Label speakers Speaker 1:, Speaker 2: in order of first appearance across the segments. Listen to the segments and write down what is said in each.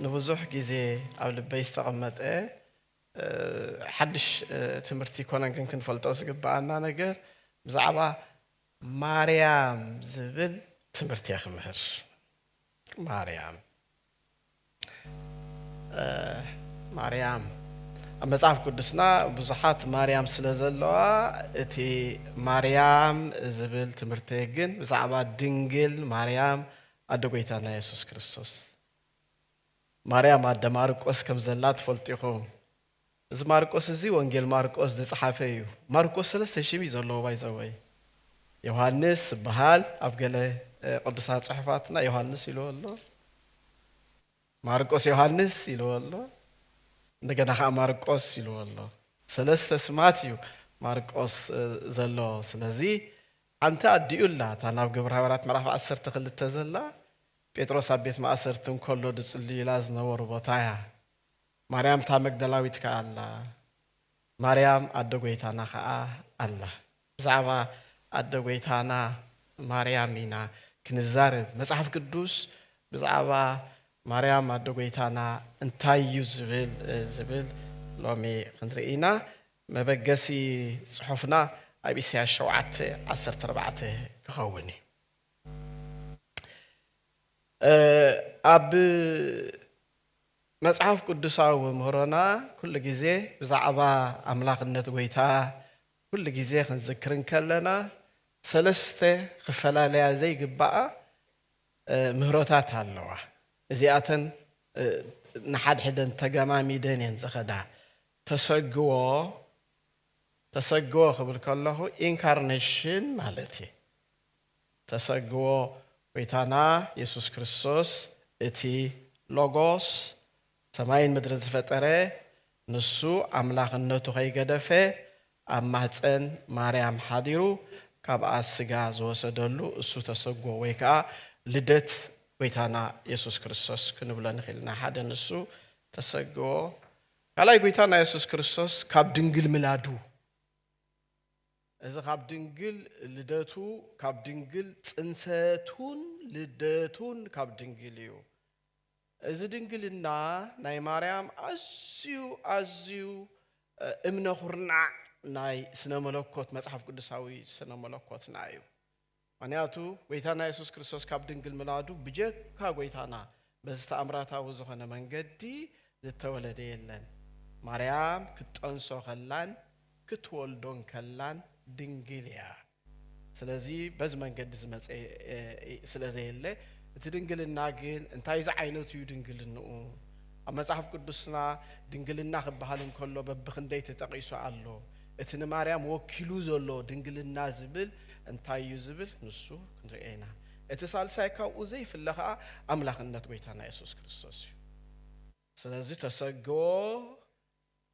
Speaker 1: ንብዙሕ ግዜ ኣብ ልበይ ዝተቐመጠ ሓድሽ ትምህርቲ ኣይኮነን፣ ግን ክንፈልጦ ዝግብኣና ነገር ብዛዕባ ማርያም ዝብል ትምህርቲ እየ ክምህር። ማርያም ማርያም ኣብ መጽሓፍ ቅዱስና ብዙሓት ማርያም ስለ ዘለዋ እቲ ማርያም ዝብል ትምህርቲ ግን ብዛዕባ ድንግል ማርያም ኣደ ጎይታና የሱስ ክርስቶስ ማርያም ኣደ ማርቆስ ከም ዘላ ትፈልጡ ኢኹም። እዚ ማርቆስ እዚ ወንጌል ማርቆስ ዝጸሓፈ እዩ። ማርቆስ ሰለስተ ሽም እዩ ዘለዎ ባይ ዘ ወይ። ዮሃንስ ዝበሃል ኣብ ገለ ቅዱሳት ጽሑፋትና ዮሃንስ ኢልዎ ኣሎ። ማርቆስ ዮሃንስ ኢልዎ ኣሎ። እንደገና ከዓ ማርቆስ ኢልዎ ኣሎ። ሰለስተ ስማት እዩ ማርቆስ ዘለዎ። ስለዚ ኣንታ ኣዲኡ ኣላ እታ ናብ ግብረ ሃበራት ምዕራፍ ዓሰርተ ክልተ ዘላ ጴጥሮስ ኣብ ቤት ማእሰርቲ እንኮሎ ድጽልዩላ ዝነበሩ ቦታ እያ ማርያም እታ መግደላዊት ከኣ ኣላ ማርያም ኣደ ጎይታና ከኣ ኣላ። ብዛዕባ ኣደ ጎይታና ማርያም ኢና ክንዛረብ መጽሓፍ ቅዱስ ብዛዕባ ማርያም ኣደ ጎይታና እንታይ እዩ ዝብል ዝብል ሎሚ ክንርኢ ኢና መበገሲ ጽሑፍና ኣብ ኢሳያስ ሸውዓተ ዓሰርተ ኣርባዕተ ክኸውን እዩ። ኣብ መጽሓፍ ቅዱሳዊ ምህሮና ኩሉ ግዜ ብዛዕባ ኣምላኽነት ጎይታ ኩሉ ግዜ ክንዝክር እንከለና ሰለስተ ክፈላለያ ዘይግባኣ ምህሮታት ኣለዋ። እዚኣተን ንሓድሕደን ተገማሚደን እየን ዝኸዳ። ተሰግዎ፣ ተሰግዎ ክብል ከለኹ ኢንካርነሽን ማለት እየ። ተሰግዎ ጎይታና የሱስ ክርስቶስ እቲ ሎጎስ ሰማይን ምድርን ዝፈጠረ ንሱ ኣምላኽነቱ ከይገደፈ ኣብ ማህጸን ማርያም ሓዲሩ ካብኣ ስጋ ዝወሰደሉ እሱ ተሰግዎ ወይ ከኣ ልደት ጎይታና የሱስ ክርስቶስ ክንብሎ ንኽእል ኢና። ሓደ ንሱ ተሰግዎ ካልኣይ ጎይታና የሱስ ክርስቶስ ካብ ድንግል ምላዱ እዚ ካብ ድንግል ልደቱ ካብ ድንግል ጽንሰቱን ልደቱን ካብ ድንግል እዩ እዚ ድንግልና ናይ ማርያም ኣዝዩ ኣዝዩ እምነ ኩርናዕ ናይ ስነ መለኮት መጽሓፍ ቅዱሳዊ ስነ መለኮትና እዩ ምክንያቱ ጎይታና የሱስ ክርስቶስ ካብ ድንግል ምላዱ ብጀካ ጎይታና በዚ ተኣምራታዊ ዝኾነ መንገዲ ዝተወለደ የለን። ማርያም ክትጠንሶ ከላን ክትወልዶን ከላን ድንግል እያ። ስለዚ በዚ መንገዲ ዝመጸ ስለ ዘየለ እቲ ድንግልና ግን እንታይ ዝዓይነቱ እዩ ድንግልንኡ? ኣብ መጽሓፍ ቅዱስና ድንግልና ክበሃል እንከሎ በብክንደይ ተጠቂሱ ኣሎ? እቲ ንማርያም ወኪሉ ዘሎ ድንግልና ዝብል እንታይ እዩ ዝብል ንሱ ክንርእዮ ኢና። እቲ ሳልሳይ ካብኡ ዘይፍለ ከኣ ኣምላኽነት ጎይታና የሱስ ክርስቶስ እዩ። ስለዚ ተሰገዎ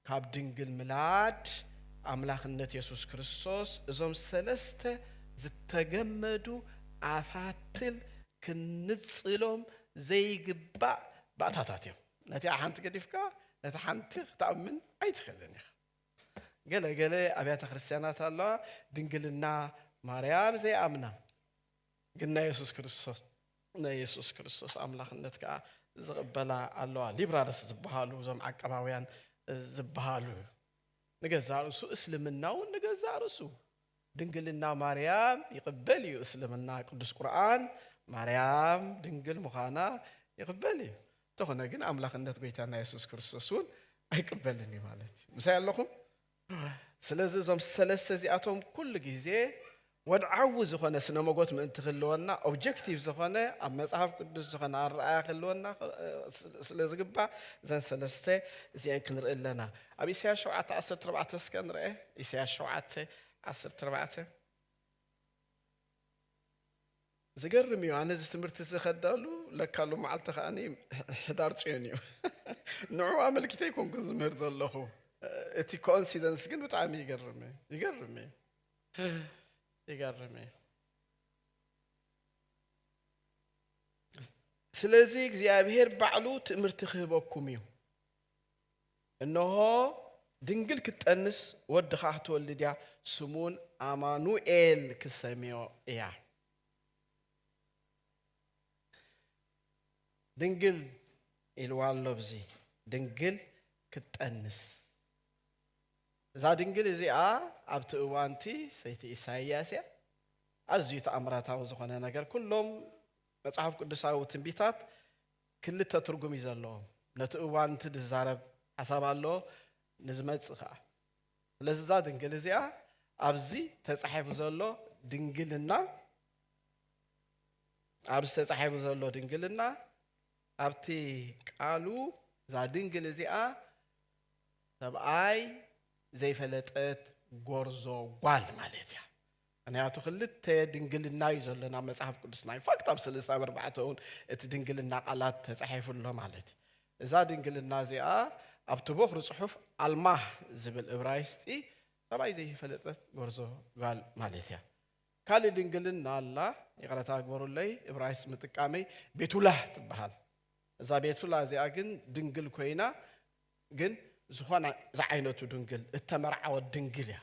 Speaker 1: ካብ ድንግል ምላድ ኣምላኽነት የሱስ ክርስቶስ እዞም ሰለስተ ዝተገመዱ ኣፋትል ክንንጽሎም ዘይግባእ ባእታታት እዮም። ነቲኣ ሓንቲ ገዲፍካ ነታ ሓንቲ ክትኣምን ኣይትኽእልን ኢኻ። ገለ ገለ ኣብያተ ክርስቲያናት ኣለዋ ድንግልና ማርያም ዘይኣምና ግን ናይ የሱስ ክርስቶስ ናይ የሱስ ክርስቶስ ኣምላኽነት ከዓ ዝቕበላ ኣለዋ ሊብራልስ ዝበሃሉ እዞም ዓቀባውያን ዝበሃሉ ንገዛእ ርእሱ እስልምና እውን ንገዛእ ርእሱ ድንግልና ማርያም ይቕበል እዩ እስልምና ቅዱስ ቁርኣን ማርያም ድንግል ምዃና ይቕበል እዩ እንተኾነ ግን ኣምላኽነት ጎይታና የሱስ ክርስቶስ እውን ኣይቅበልን እዩ ማለት እዩ ምሳይ ኣለኹም ስለዚ እዞም ሰለስተ እዚኣቶም ኩሉ ግዜ ወድዓዊ ዝኾነ ስነ መጎት ምእንቲ ክህልወና ኦብጀክቲቭ ዝኾነ ኣብ መፅሓፍ ቅዱስ ዝኾነ ኣረኣያ ክህልወና ስለ ዝግባእ እዘን ሰለስተ እዚአን ክንርኢ ኣለና ኣብ ኢሳያስ ሸውዓተ ዓሰርተ ኣርባዕተ እስከ ንርኣ ኢሳያስ ሸውዓተ ዓሰርተ ኣርባዕተ ዝገርም እዩ ኣነ እዚ ትምህርቲ እዚ ከዳሉ ለካሉ መዓልቲ ከዓ ሕዳር ፅዮን እዩ ንዑ ኣመልኪተ ይኮንኩን ዝምህር ዘለኹ እቲ ኮንሲደንስ ግን ብጣዕሚ ይገርም ይገርም ይገርም ስለዚ እግዚኣብሄር ባዕሉ ትምህርቲ ክህበኩም እዩ እነሆ ድንግል ክትጠንስ ወዲ ኸዓ ክትወልድ እያ፣ ስሙውን ኣማኑኤል ክትሰምዮ እያ። ድንግል ኢልዋ ኣሎ ብዚ ድንግል ክትጠንስ እዛ ድንግል እዚኣ ኣብቲ እዋንቲ ሰይቲ ኢሳይያስ እያ ኣዝዩ ተኣምራታዊ ዝኾነ ነገር ኩሎም መጽሓፍ ቅዱሳዊ ትንቢታት ክልተ ትርጉም እዩ ዘለዎም ነቲ እዋን እቲ ዝዛረብ ሓሳብ ኣሎ ንዝመጽእ ከኣ ስለዚ እዛ ድንግል እዚኣ ኣብዚ ተጻሒፉ ዘሎ ድንግልና ኣብዚ ተጻሒፉ ዘሎ ድንግልና ኣብቲ ቃሉ እዛ ድንግል እዚኣ ሰብኣይ ዘይፈለጠት ጎርዞ ጓል ማለት እያ ምክንያቱ ክልተ ድንግልና እዩ ዘሎና መጽሓፍ ቅዱስና ኢንፋክት ኣብ ሰለስተ ኣብ ኣርባዕተ እውን እቲ ድንግልና ቃላት ተጻሒፉ ኣሎ ማለት እዩ እዛ ድንግልና እዚኣ ኣብቲ ቦኽሪ ጽሑፍ ኣልማህ ዝብል እብራይስጢ ሰብኣይ ዘይፈለጠት ጎርዞ ጓል ማለት እያ ካልእ ድንግልና ኣላ ይቕረታ ግበሩለይ እብራይስ ምጥቃመይ ቤቱላህ ትበሃል እዛ ቤቱላ እዚኣ ግን ድንግል ኮይና ግን ዝኾነ ዝዓይነቱ ድንግል እተመርዓወት ድንግል እያ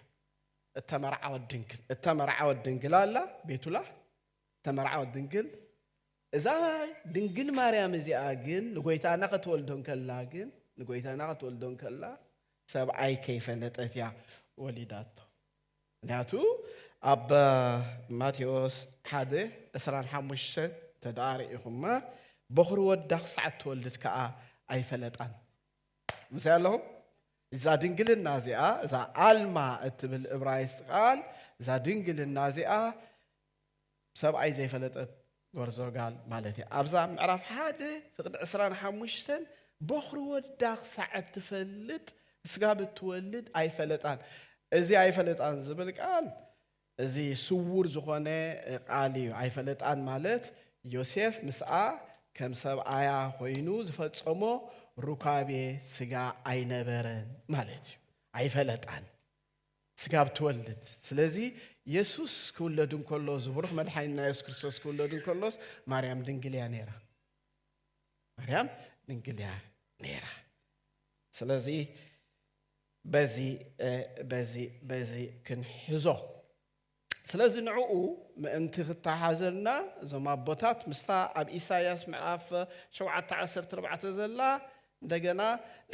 Speaker 1: እተመርዓወት ድንግል እተመርዓወት ድንግል ኣላ ቤቱላህ እተመርዓወት ድንግል እዛ ድንግል ማርያም እዚኣ ግን ንጎይታና ክትወልዶ እንከላ ግን ንጎይታና ክትወልዶ እንከላ ሰብኣይ ከይፈለጠት እያ ወሊዳቶ ምክንያቱ ኣብ ማቴዎስ ሓደ ዕስራን ሓሙሽተ ተደኣ ርኢኹማ በኹሪ ወዳ ክሳዕ እትወልድ ከዓ ኣይፈለጣን ምስይ ኣለኹም እዛ ድንግልና እዚኣ እዛ ኣልማ እትብል እብራይስጥ ቃል እዛ ድንግልና እዚኣ ሰብኣይ ዘይፈለጠት ጎርዞ ጋል ማለት እያ ኣብዛ ምዕራፍ ሓደ ፍቅዲ ዕስራን ሓሙሽተን ቦኽሪ ወዳ ክሳዕ እትፈልጥ ስጋብ እትወልድ ኣይፈለጣን እዚ ኣይፈለጣን ዝብል ቃል እዚ ስዉር ዝኾነ ቃል እዩ፣ ኣይፈለጣን ማለት ዮሴፍ ምስኣ ከም ሰብኣያ ኮይኑ ዝፈጸሞ ሩካቤ ስጋ ኣይነበረን ማለት እዩ፣ ኣይፈለጣን ስጋብ ትወልድ ስለዚ የሱስ ክውለድ እንከሎ እዚ ብሩኽ መድሓኒና የሱስ ክርስቶስ ክውለድ እንከሎስ ማርያም ድንግል እያ ነይራ ማርያም ድንግል እያ ነይራ ስለዚ በዚ በዚ በዚ ክንሕዞ ስለዚ ንዕኡ ምእንቲ ክተሓዘልና እዞም ኣቦታት ምስታ ኣብ ኢሳያስ ምዕራፍ ሸውዓተ ዓሰርተ ኣርባዕተ ዘላ እንደገና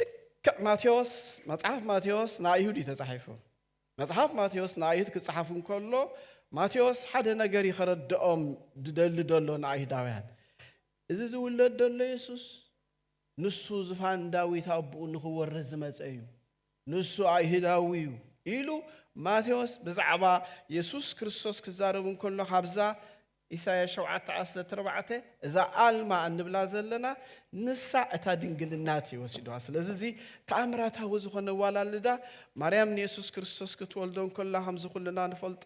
Speaker 1: ልክዕ ማቴዎስ መጽሓፍ ማቴዎስ ንኣይሁድ እዩ ተጻሒፉ መጽሓፍ ማቴዎስ ንኣይሁድ ክጽሓፍ እንከሎ ማቴዎስ ሓደ ነገር እዩ ከረድኦም ዝደሊ ደሎ ንኣይሁዳውያን እዚ ዝውለድ ደሎ የሱስ ንሱ ዝፋን ዳዊት ኣቦኡ ንኽወርስ ዝመጸ እዩ፣ ንሱ ኣይሁዳዊ እዩ ኢሉ ማቴዎስ ብዛዕባ የሱስ ክርስቶስ ክዛረብ እንከሎ ካብዛ ኢሳይያስ ሸውዓተ ዓሰርተ ኣርባዕተ እዛ ኣልማ እንብላ ዘለና ንሳ እታ ድንግልናት እዩ ወሲድዋ ስለዚ እዚ ተኣምራታዊ ዝኾነ ዋላልዳ ማርያም ንየሱስ ክርስቶስ ክትወልዶ እንከላ ከምዚ ኩልና ንፈልጦ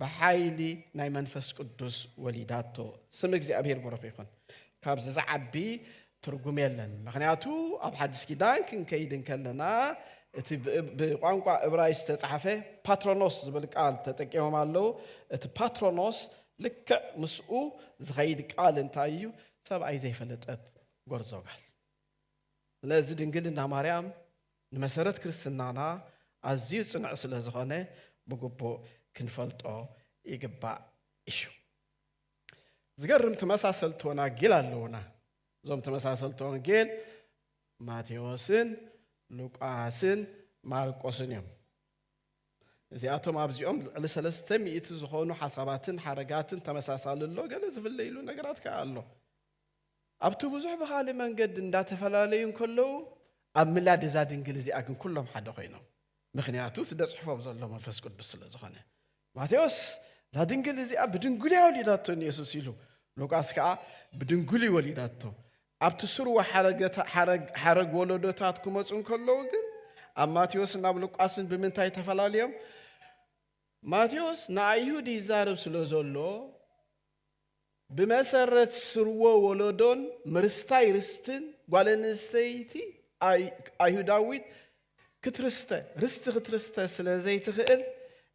Speaker 1: ብሓይሊ ናይ መንፈስ ቅዱስ ወሊዳቶ ስም እግዚኣብሔር ብሩኽ ይኹን ካብዚ ዝዓቢ ትርጉም የለን ምክንያቱ ኣብ ሓዲስ ኪዳን ክንከይድ እንከለና እቲ ብቋንቋ እብራይ ዝተፃሓፈ ፓትሮኖስ ዝብል ቃል ተጠቂሞም ኣለዉ እቲ ፓትሮኖስ ልክዕ ምስኡ ዝኸይድ ቃል እንታይ እዩ ሰብኣይ ዘይፈለጠት ጎርዞ ጋል ስለዚ ድንግልና ማርያም ንመሰረት ክርስትናና ኣዝዩ ጽኑዕ ስለ ዝኾነ ብግቡእ ክንፈልጦ ይግባእ እሹ። ዝገርም ተመሳሰልቲ ወናጌል ኣለዉና። እዞም ተመሳሰልቲ ወንጌል ማቴዎስን ሉቃስን ማርቆስን እዮም። እዚኣቶም ኣብዚኦም ልዕሊ ሰለስተ ሚእቲ ዝኾኑ ሓሳባትን ሓረጋትን ተመሳሳሊ ኣሎ፣ ገለ ዝፍለይሉ ነገራት ከኣ ኣሎ። ኣብቲ ብዙሕ ብኻልእ መንገዲ እንዳተፈላለዩ እንከለዉ ኣብ ምላድ እዛ ድንግል እዚኣ ግን ኩሎም ሓደ ኮይኖም ምኽንያቱ እቲ ደጽሕፎም ዘሎ መንፈስ ቅዱስ ስለ ዝኾነ ማቴዎስ እዛ ድንግል እዚኣ ብድንግልያ ወሊዳቶ ንየሱስ ኢሉ ሉቃስ ከዓ ብድንግል ወሊዳቶ ኣብቲ ስርወ ሓረግ ወለዶታት ክመፁ እንከለዉ ግን ኣብ ማቴዎስን ኣብ ሉቃስን ብምንታይ ተፈላለዮም ማቴዎስ ንኣይሁድ ይዛረብ ስለ ዘሎ ብመሰረት ስርወ ወለዶን ምርስታይ ርስትን ጓል ኣንስተይቲ ኣይሁዳዊት ክትርስተ፣ ርስቲ ክትርስተ ስለ ዘይትኽእል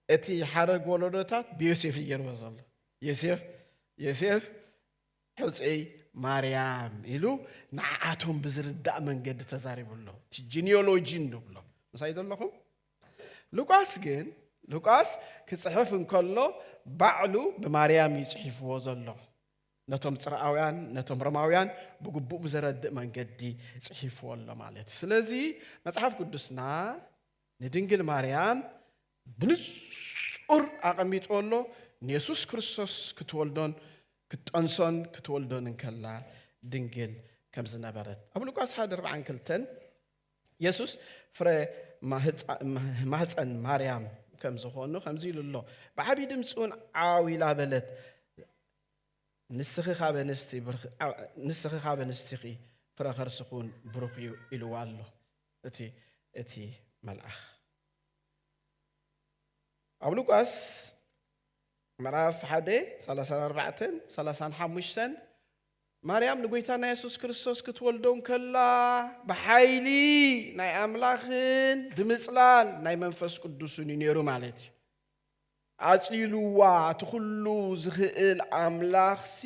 Speaker 1: እቲ ሓረግ ወለዶታት ብዮሴፍ እዩ ገይርዎ ዘሎ። ዮሴፍ ዮሴፍ ሕጹይ ማርያም ኢሉ ንዓኣቶም ብዝርዳእ መንገዲ ተዛሪቡሎም። እቲ ጂኒዮሎጂ ንብሎ ምሳይ ዘለኹም ሉቃስ ግን ሉቃስ ክጽሕፍ እንከሎ ባዕሉ ብማርያም እዩ ጽሒፍዎ ዘሎ ነቶም ፅርኣውያን ነቶም ሮማውያን ብግቡእ ብዘረድእ መንገዲ ጽሒፍዎ ኣሎ ማለት እዩ ስለዚ መጽሓፍ ቅዱስና ንድንግል ማርያም ብንጹር ኣቐሚጥዎ ኣሎ ንየሱስ ክርስቶስ ክትወልዶን ክትጠንሶን ክትወልዶን እንከላ ድንግል ከም ዝነበረት ኣብ ሉቃስ ሓደ ርብዓን ክልተን የሱስ ፍረ ማህፀን ማርያም ከም ዝኾኑ ከምዚ ኢሉ ኣሎ ብዓብዪ ድምፂ እውን ዓው ኢላ በለት ንስኺ ካብ ኣንስቲ ንስኺ ካብ ኣንስቲኺ ፍረ ከርስኺ እውን ብሩኽ እዩ ኢልዋ ኣሎ እቲ እቲ መልኣኽ ኣብ ሉቃስ ምዕራፍ ሓደ 34 35 ማርያም ንጐይታና የሱስ ክርስቶስ ክትወልዶ እንከላ ብሓይሊ ናይ ኣምላኽን ብምጽላል ናይ መንፈስ ቅዱስን እዩ ነይሩ ማለት እዩ። ኣጽሊሉዋ እቲ ዅሉ ዝኽእል ኣምላኽሲ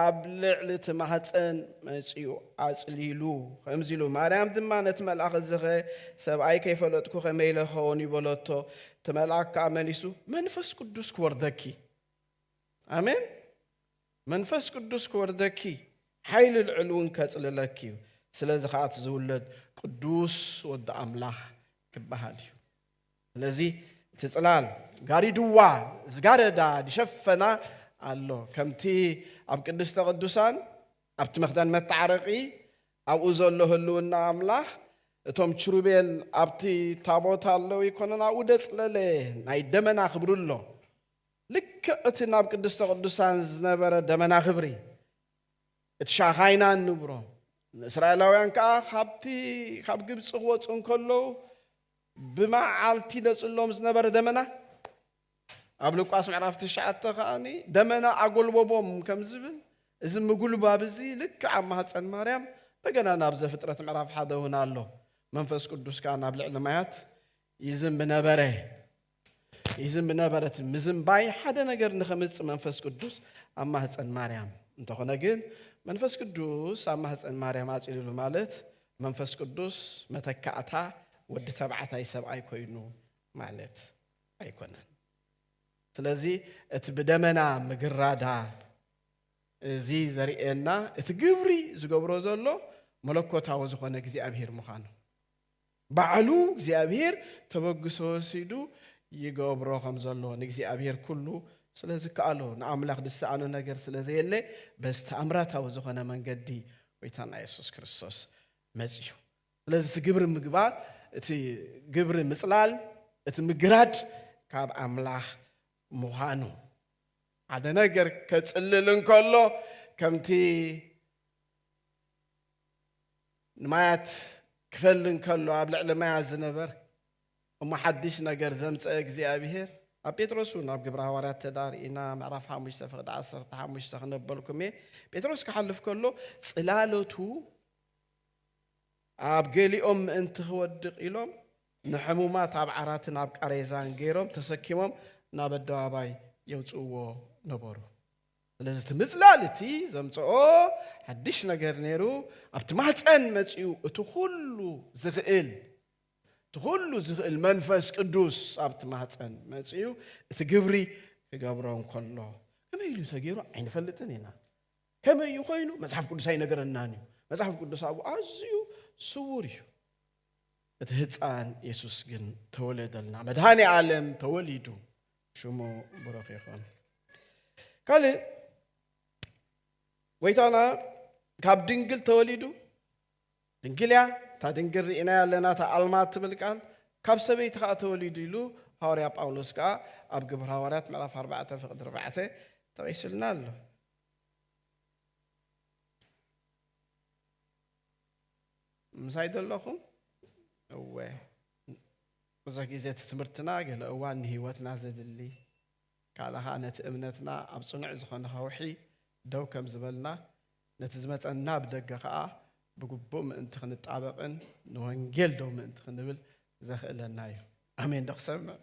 Speaker 1: ኣብ ልዕሊ እቲ ማህጸን መጺኡ ኣጽሊሉ። ከምዚ ኢሉ ማርያም ድማ ነቲ መልኣኽ እዚኸ ሰብኣይ ከይፈለጥኩ ከመይ ኢለ ክኸውን እዩ በለቶ። እቲ መልኣኽ ከኣ መሊሱ መንፈስ ቅዱስ ክወርደኪ ኣሜን መንፈስ ቅዱስ ክወርደኪ እዩ፣ ሓይሊ ልዑል እውን ከጽልለኪ እዩ፣ ስለዚ ኸኣ እቲ ዝውለድ ቅዱስ ወዲ ኣምላኽ ክበሃል እዩ። ስለዚ እቲ ጽላል ጋሪድዋ ዝጋረዳ ዝሸፈና ኣሎ፣ ከምቲ ኣብ ቅድስተ ቅዱሳን ኣብቲ መኽደን መተዓረቒ ኣብኡ ዘሎ ህልውና ኣምላኽ እቶም ችሩቤል ኣብቲ ታቦት ኣለዉ ይኮነን ኣብኡ ደጽለለ ናይ ደመና ክብሪ ኣሎ። ልክዕ እቲ ናብ ቅድስተ ቅዱሳን ዝነበረ ደመና ክብሪ፣ እቲ ሻካይናን ንብሮን፣ ንእስራኤላውያን ከኣ ካብቲ ካብ ግብጺ ክወጹ እንከለዉ ብመዓልቲ ይነጽሎም ዝነበረ ደመና፣ ኣብ ሉቃስ ምዕራፍ ትሽዓተ ከኣ ደመና ኣጎልበቦም ከም ዝብል፣ እዚ ምጉልባብ እዚ ልክዕ ኣብ ማህጸን ማርያም እንደገና ናብ ዘፍጥረት ምዕራፍ ሓደ እውን ኣሎ። መንፈስ ቅዱስ ከኣ ናብ ልዕሊ ማያት ይዝንብ ነበረ። ይዝም ነበረት። ምዝንባይ ሓደ ነገር ንኸምጽእ መንፈስ ቅዱስ ኣብ ማህፀን ማርያም እንተኾነ ግን መንፈስ ቅዱስ ኣብ ማህፀን ማርያም ኣፅልሉ ማለት መንፈስ ቅዱስ መተካእታ ወዲ ተባዕታይ ሰብኣይ ኮይኑ ማለት ኣይኮነን ስለዚ እቲ ብደመና ምግራዳ እዚ ዘርእየና እቲ ግብሪ ዝገብሮ ዘሎ መለኮታዊ ዝኾነ እግዚኣብሄር ምዃኑ ባዕሉ እግዚኣብሄር ተበግሶ ወሲዱ ይገብሮ ከም ዘሎ ንእግዚኣብሄር ኩሉ ስለ ዝከኣሎ ንኣምላኽ ዝሰኣኖ ነገር ስለ ዘየለ በዚ ተኣምራታዊ ዝኾነ መንገዲ ጎይታና የሱስ ክርስቶስ መጺኡ ስለዚ እቲ ግብሪ ምግባር እቲ ግብሪ ምጽላል እቲ ምግራድ ካብ ኣምላኽ ምዃኑ ሓደ ነገር ከጽልል እንከሎ ከምቲ ንማያት ክፈሊ እንከሎ ኣብ ልዕሊ ማያት ዝነበር እሞ ሓድሽ ነገር ዘምጸኤ እግዚኣብሄር ኣብ ጴጥሮስ እውን ኣብ ግብረ ሃዋርያት ተዳ ርኢና ምዕራፍ ሓሙሽተ ፍቕዲ ዓሰርተ ሓሙሽተ ክነበልኩም እየ ጴጥሮስ ክሓልፍ ከሎ ጽላሎቱ ኣብ ገሊኦም ምእንቲ ክወድቕ ኢሎም ንሕሙማት ኣብ ዓራትን ኣብ ቃሬዛን ገይሮም ተሰኪሞም ናብ ኣደባባይ የውጽእዎ ነበሩ ስለዚ እቲ ምጽላል እቲ ዘምጸኦ ሓድሽ ነገር ነይሩ፣ ኣብቲ ማህጸን መጺኡ እቲ ኩሉ ዝኽእል እቲ ኩሉ ዝኽእል መንፈስ ቅዱስ ኣብቲ ማህጸን መጺኡ እቲ ግብሪ ክገብሮ እንከሎ ከመይ ኢሉ ተገይሩ ኣይንፈልጥን ኢና። ከመይ እዩ ኮይኑ መጽሓፍ ቅዱስ ኣይነገረናን እዩ። መጽሓፍ ቅዱስ ኣብኡ ኣዝዩ ስውር እዩ። እቲ ህፃን የሱስ ግን ተወለደልና። መድኃኔ ዓለም ተወሊዱ። ሽሙ ብሩኽ ይኹን። ካልእ ጎይታና ካብ ድንግል ተወሊዱ ድንግል እያ እታ ድንግል ርኢና ኣለና እታ ኣልማ ትብል ቃል ካብ ሰበይቲ ከዓ ተወሊዱ ኢሉ ሃዋርያ ጳውሎስ ከዓ ኣብ ግብሪ ሃዋርያት ምዕራፍ 4 ፍቅዲ 4 ጠቂሱልና ኣሎ ምሳይ ዘለኹም እወ ብዙሕ ግዜ እቲ ትምህርትና ገለ እዋን ንህይወትና ዘድሊ ካልእ ከኣ ነቲ እምነትና ኣብ ጽኑዕ ዝኾነ ከውሒ ደው ከም ዝበልና ነቲ ዝመጸና ብደገ ከኣ ብግቡእ ምእንቲ ክንጣበቕን ንወንጌል ደው ምእንቲ ክንብል ዘኽእለና እዩ። ኣሜን ዶ ክሰምዕ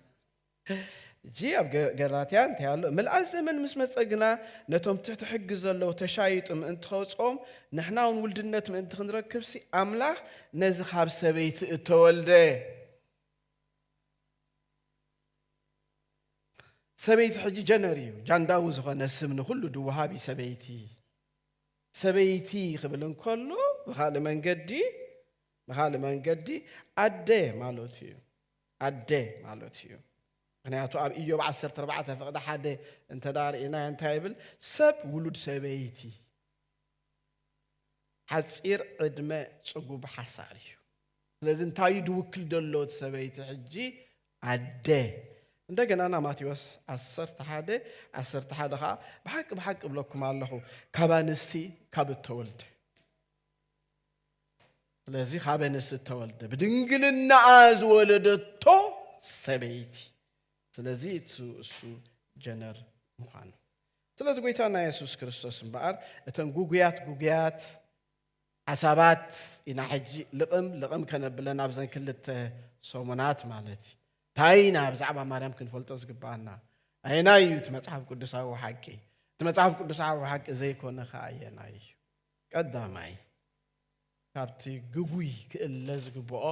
Speaker 1: እጂ ኣብ ገላትያ እንታይ ኣሎ ምልኣት ዘመን ምስ መፀ ግና ነቶም ትሕቲ ሕጊ ዘለዉ ተሻይጡ ምእንቲ ከውፅኦም ንሕና እውን ውልድነት ምእንቲ ክንረክብሲ ኣምላኽ ነዚ ኻብ ሰበይቲ እተወልደ ሰበይቲ ሕጂ ጀነር እዩ ጃንዳዊ ዝኾነ ስም ንኹሉ ድወሃብ እዩ ሰበይቲ ሰበይቲ ክብል እንከሎ ብኻልእ መንገዲ ብኻልእ መንገዲ ኣደ ማለት እዩ ኣደ ማለት እዩ ምክንያቱ ኣብ ኢዮብ 14 ፍቕዲ ሓደ እንተ ርእናዮ እንታይ ይብል ሰብ ውሉድ ሰበይቲ ሓጺር ዕድመ ጽጉብ ሓሳር እዩ። ስለዚ እንታይ እዩ ድውክል ዘሎ እቲ ሰበይቲ ሕጂ ኣደ እንደገና ና ማቴዎስ ዓሰርተ ሓደ ዓሰርተ ሓደ ከዓ ብሓቂ ብሓቂ እብለኩም ኣለኹ ካብ ኣንስቲ ካብ እተወልደ ስለዚ ካብ ኣንስቲ እተወልደ ብድንግልናኣ ዝወለደቶ ሰበይቲ ስለዚ እሱ ጀነር ምዃኑ ስለዚ ጎይታና የሱስ ክርስቶስ እምበኣር እተን ጉጉያት ጉጉያት ሓሳባት ኢና ሕጂ ልቕም ልቕም ከነብለን ኣብዘን ክልተ ሰሙናት ማለት እዩ እንታይ ኢና ብዛዕባ ማርያም ክንፈልጦ ዝግብኣና ኣየናይ እዩ እቲ መጽሓፍ ቅዱሳዊ ሓቂ እቲ መጽሓፍ ቅዱሳዊ ሓቂ ዘይኮነ ከ ኣየናይ እዩ ቀዳማይ ካብቲ ግጉይ ክእለ ዝግብኦ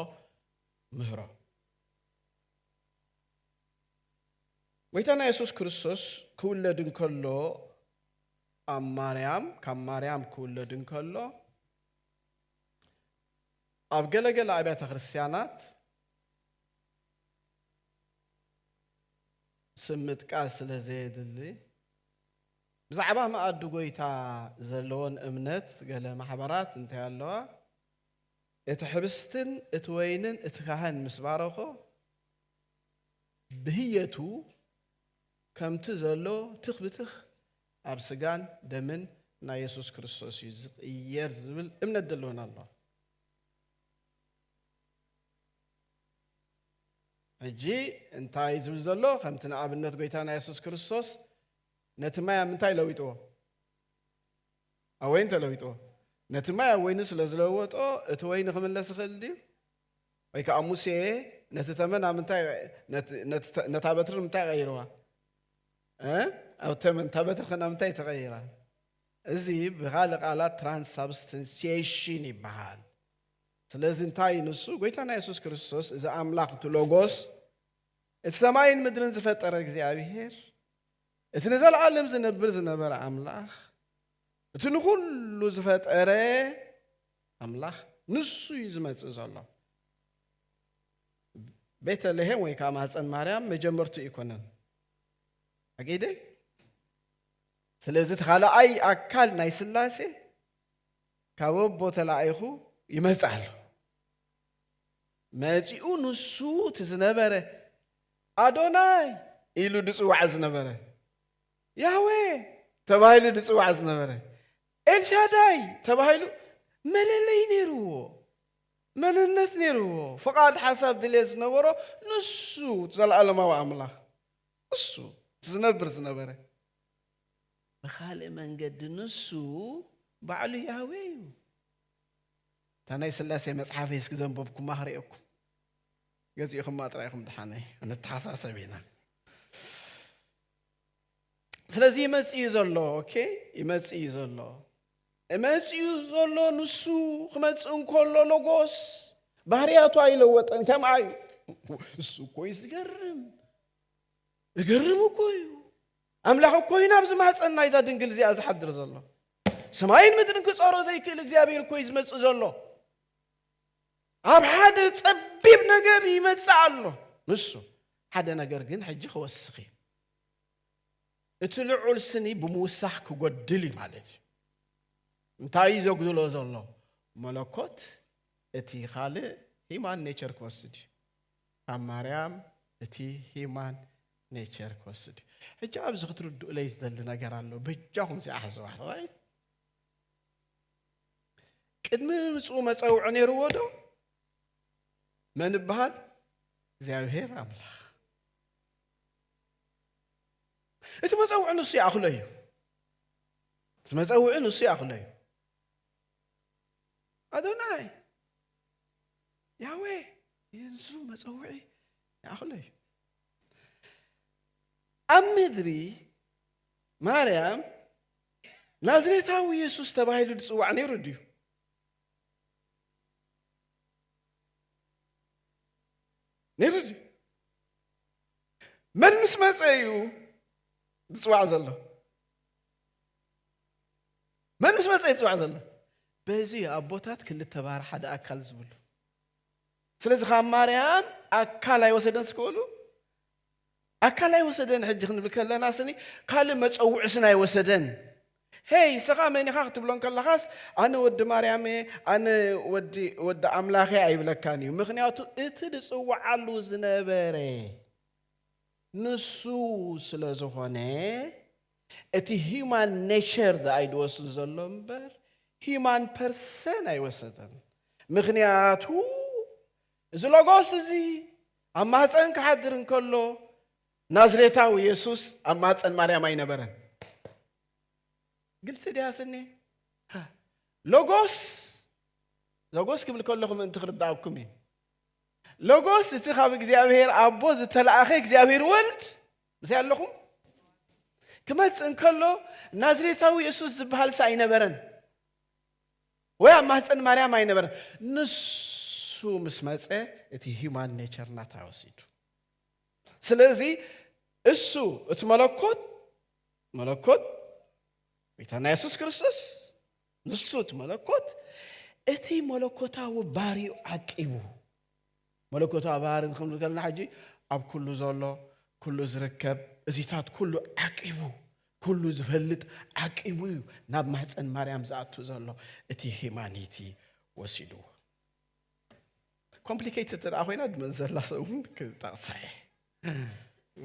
Speaker 1: ምህሮ ጎይታና የሱስ ክርስቶስ ክውለድ እንከሎ ኣብ ማርያም ካብ ማርያም ክውለድ እንከሎ ኣብ ገለገለ ኣብያተ ክርስትያናት ስም ምጥቃስ ስለ ዘየድሊ ብዛዕባ መኣዲ ጎይታ ዘለዎን እምነት ገለ ማሕበራት እንታይ ኣለዋ እቲ ሕብስትን እቲ ወይንን እቲ ካህን ምስ ባረኾ ብህየቱ ከምቲ ዘሎ ትኽ ብትኽ ኣብ ስጋን ደምን ናይ የሱስ ክርስቶስ እዩ ዝቕየር ዝብል እምነት ዘሎና ኣሎ ሕጂ እንታይ ዝብል ዘሎ ከምቲ ንኣብነት ጎይታና የሱስ ክርስቶስ ነቲ ማይ ኣብ ምንታይ ለዊጥዎ ኣብ ወይን ተለዊጥዎ ነቲ ማይ ኣብ ወይኒ ስለ ዝለወጦ እቲ ወይኒ ክምለስ ይኽእል ድዩ ወይ ከኣ ሙሴ ነቲ ተመን ኣብ ምንታይ ነታ በትሪ ንምንታይ ቀይርዋ ኣብ ተመን እታ በትሪ ከ ናብ ምንታይ ተቐይራ እዚ ብኻልእ ቃላት ትራንስሳብስተንሲሽን ይበሃል ስለዚ እንታይ ንሱ ጎይታና የሱስ ክርስቶስ እዚ ኣምላኽ እቲ ሎጎስ እቲ ሰማይን ምድርን ዝፈጠረ እግዚኣብሄር እቲ ንዘለዓለም ዝነብር ዝነበረ ኣምላኽ እቲ ንኹሉ ዝፈጠረ ኣምላኽ ንሱ እዩ ዝመጽእ ዘሎ። ቤተ ልሔም ወይ ከዓ ማህፀን ማርያም መጀመርቱ ኣይኮነን ኣገይደ ስለዚ እቲ ካልኣይ ኣካል ናይ ስላሴ ካብ ኣቦ ተላኢኹ ይመጽእ ኣሎ መጺኡ ንሱ እቲ ዝነበረ ኣዶናይ ኢሉ ድፅዋዕ ዝነበረ ያህዌ ተባሂሉ ድፅዋዕ ዝነበረ ኤልሻዳይ ተባሂሉ መለለዪ ነይሩዎ፣ መንነት ነይሩዎ፣ ፍቓድ፣ ሓሳብ፣ ድሌት ዝነበሮ ንሱ እቲ ዘለኣለማዊ ኣምላኽ ንሱ እቲ ዝነብር ዝነበረ። ብኻልእ መንገዲ ንሱ ባዕሉ ያህዌ እዩ። እታ ናይ ስላሴ መጽሓፈይ እስኪ ዘንበብኩማ ክርእየኩም ገዚእኹማ ጥራይ ኢኹም ድሓነይ፣ ንተሓሳሰብ ኢና። ስለዚ ይመጽእ እዩ ዘሎ ኦኬ ይመጽእ እዩ ዘሎ እመጽ እዩ ዘሎ ንሱ ክመጽእ እንከሎ ሎጎስ ባህርያቱ ኣይለወጠን ከምኣ እዩ እሱ እኮ እዩ ዝገርም እገርም እኮ እዩ ኣምላኽ እኮ እዩ ናብዚ ማህፀን ናይዛ ድንግል እዚኣ ዝሓድር ዘሎ ሰማይን ምድርን ክፀሮ ዘይክእል እግዚኣብሔር እኮ እዩ ዝመፅእ ዘሎ ኣብ ሓደ ፀቢብ ነገር ይመፅእ ኣሎ ንሱ ሓደ ነገር ግን ሕጂ ክወስኽ እዩ እቲ ልዑል ስኒ ብምውሳኽ ክጎድል እዩ ማለት እዩ እንታይ እዩ ዘጉድሎ ዘሎ መለኮት እቲ ካልእ ሂማን ኔቸር ክወስድ እዩ ካብ ማርያም እቲ ሂማን ኔቸር ክወስድ እዩ ሕጂ ኣብዚ ክትርድኡለይ ዝደሊ ነገር ኣሎ በጃኹም ዚኣ ሕዝዋ ራይ ቅድሚ ምምፅኡ መፀውዒ ነይርዎ ዶ መን ይበሃል እግዚኣብሄር ኣምላኽ እቲ መጸውዒ ንሱ ይኣኽሎ እዩ። እቲ መጸውዒ ንሱ ይኣኽሎ እዩ። ኣዶናይ ያዌ ንሱ መጸውዒ ይኣኽሎ እዩ። ኣብ ምድሪ ማርያም ናዝሬታዊ የሱስ ተባሂሉ ዝጽዋዕ ነይሩ ድዩ? ነይሩ ድዩ? መን ምስ መፀ እዩ ዝፅዋዕ ዘሎ መን ምስ መፀ ይፅዋዕ ዘሎ በዚ ኣቦታት ክልተ ባህር ሓደ ኣካል ዝብሉ ስለዚ ካብ ማርያም ኣካል ኣይወሰደን ስክእሉ ኣካል ኣይወሰደን ሕጂ ክንብል ከለና ስኒ ካልእ መፀውዒ ስን ኣይወሰደን ሄይ እስኻ መን ኢኻ ክትብሎ እንከለኻስ ኣነ ወዲ ማርያም እየ ኣነ ወዲ ወዲ ኣምላኽ እየ ኣይብለካን እዩ ምኽንያቱ እቲ ዝጽውዓሉ ዝነበረ ንሱ ስለ ዝኾነ እቲ ሂማን ኔቸር ዝኣይ ድወስድ ዘሎ እምበር ሂማን ፐርሰን ኣይወሰደን ምኽንያቱ እዚ ሎጎስ እዚ ኣብ ማህፀን ክሓድር እንከሎ ናዝሬታዊ የሱስ ኣብ ማፀን ማርያም ኣይነበረን። ግልፂ ድያ ስኒ ሎጎስ ሎጎስ ክብል ከለኹ ምእንቲ ክርዳኣኩም እዩ። ሎጎስ እቲ ካብ እግዚኣብሔር ኣቦ ዝተላእኸ እግዚኣብሔር ወልድ ምስይ ኣለኹም ክመፅእ እንከሎ ናዝሬታዊ የሱስ ዝበሃል ሳ ኣይነበረን ወይ ኣብ ማህፀን ማርያም ኣይነበረን። ንሱ ምስ መፀ እቲ ሂማን ኔቸር ናታ ወሲዱ ስለዚ እሱ እቲ መለኮት መለኮት ጌታና የሱስ ክርስቶስ ንሱ እቲ መለኮት እቲ መለኮታዊ ባህሪኡ ዓቂቡ መለኮታዊ ባህሪ ንክንብል ከለና ሕጂ ኣብ ኩሉ ዘሎ ኩሉ ዝርከብ እዚታት ኩሉ ዓቂቡ ኩሉ ዝፈልጥ ዓቂቡ እዩ ናብ ማህፀን ማርያም ዝኣቱ ዘሎ እቲ ሂማኒቲ ወሲድዎ ኮምፕሊኬት እተ ኮይና ድመዘላ ሰብ እውን ክጠቕሳ እየ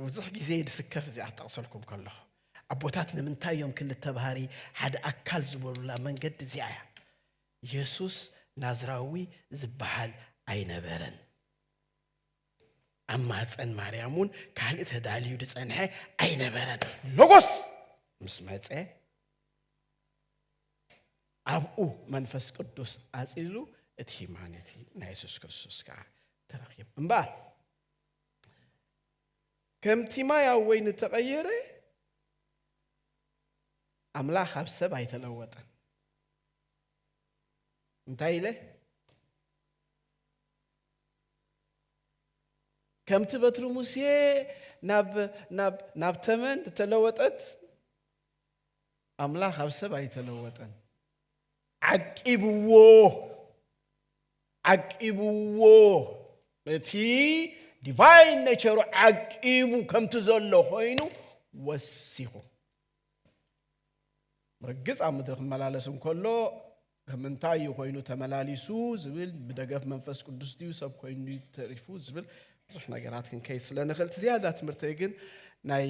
Speaker 1: ብዙሕ ግዜ ድስከፍ እዚኣ ክጠቕሰልኩም ከለኹ ኣቦታት ንምንታይ እዮም ክልተ ባህሪ ሓደ ኣካል ዝበሉላ መንገዲ እዚኣ እያ የሱስ ናዝራዊ ዝበሃል ኣይነበረን ኣብ ማፀን ማርያም እውን ካልእ ተዳልዩ ዝፀንሐ ኣይነበረን ሎጎስ ምስ መፀ ኣብኡ መንፈስ ቅዱስ ኣፅሊሉ እቲ ሂማኒቲ ናይ የሱስ ክርስቶስ ከዓ ተረኪቡ እምበኣር ከምቲ ማይ ኣብ ወይኒ ተቐየረ ኣምላኽ ኣብ ሰብ ኣይተለወጠን እንታይ ኢለ ከምቲ በትሪ ሙሴ ናብ ተመን ተለወጠት ኣምላኽ ኣብ ሰብ ኣይተለወጠን። ዓቂብዎ ዓቂብዎ እቲ ዲቫይን ነቸሩ ዓቂቡ ከምቲ ዘሎ ኮይኑ ወሲኹ ርግፅ ኣብ ምድሪ ክመላለስ እንከሎ ከምንታይ እዩ ኮይኑ ተመላሊሱ ዝብል ብደገፍ መንፈስ ቅዱስ ድዩ ሰብ ኮይኑ ተሪፉ ዝብል ብዙሕ ነገራት ክንከይድ ስለ ንኽእል እቲ ዝያዳ ትምህርተይ ግን ናይ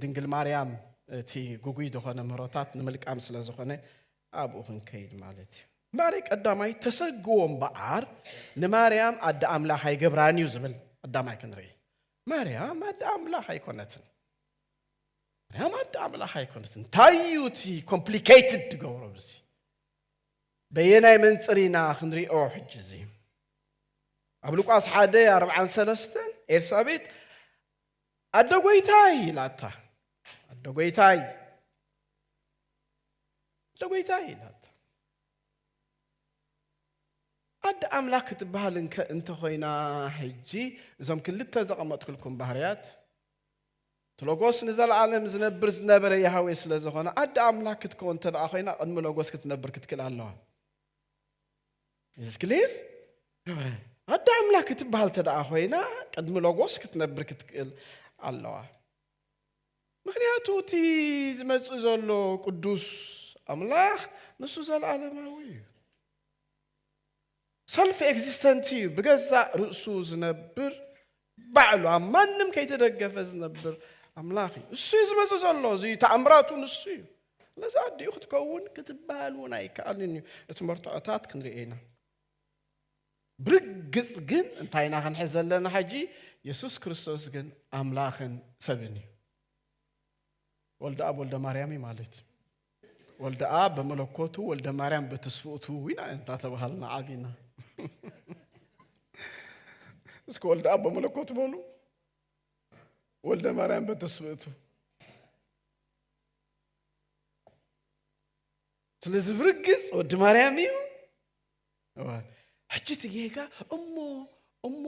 Speaker 1: ድንግል ማርያም እቲ ጉጉይ ዝኾነ ምህሮታት ንምልቃም ስለ ዝኾነ ኣብኡ ክንከይድ ማለት እዩ እምበኣረይ ቀዳማይ ተሰግዎ እምበኣር ንማርያም ኣደ ኣምላኽ ኣይገብራን እዩ ዝብል ቀዳማይ ክንርኢ ማርያም ኣደ ኣምላኽ ኣይኮነትን ማርያም ኣደ ኣምላኽ ኣይኮነትን እንታይ እዩ እቲ ኮምፕሊኬትድ ትገብሮ ብዚ በየናይ መንጽር ኢና ክንሪኦ ሕጂ እዚ ኣብ ሉቃስ ሓደ ኣርብዓን ሰለስተን ኤልሳቤጥ ኣደ ጎይታይ ኢላታ ኣደ ጎይታይ ኣደ ጎይታይ ኢላታ ኣደ ኣምላክ ክትበሃል እንተ ኮይና ሕጂ እዞም ክልተ ዘቐመጥኩልኩም ባህርያት እቲ ሎጎስ ንዘለኣለም ዝነብር ዝነበረ ያህዌ ስለ ዘኾነ ኣደ ኣምላክ ክትከውን እንተደኣ ኮይና ቅድሚ ሎጎስ ክትነብር ክትክእል ኣለዋ። ኢዝ ክሊር? ኣደ ኣምላክ ክትበሃል እንተደኣ ኮይና ቅድሚ ሎጎስ ክትነብር ክትክእል ኣለዋ። ምክንያቱ እቲ ዝመጽእ ዘሎ ቅዱስ ኣምላኽ ንሱ ዘለኣለማዊ እዩ። ሰልፍ ኤግዚስተንት እዩ ብገዛእ ርእሱ ዝነብር ባዕሉ ኣብ ማንም ከይተደገፈ ዝነብር ኣምላኽ እዩ እሱ እዩ ዝመፅ ዘሎ እዚ ተኣምራቱ ንሱ እዩ ስለዚ ኣዲኡ ክትከውን ክትበሃል እውን ኣይከኣልን እዩ እቲ መርትዖታት ክንሪኦ ኢና ብርግፅ ግን እንታይ ኢና ክንሕዝ ዘለና ሕጂ የሱስ ክርስቶስ ግን ኣምላኽን ሰብን እዩ ወልደ ኣብ ወልደ ማርያም ማለት እዩ ወልደኣብ በመለኮቱ ወልደ ማርያም በትስፍኡቱ ኢና እንታተባሃልና ዓቢና እስኪ ወልደኣብ በመለኮቱ በሉ ወልደ ማርያም በትስፍእቱ ስለዚ ብርግፅ ወዲ ማርያም እዩ ሕጂ እቲ ጌጋ እሞ እሞ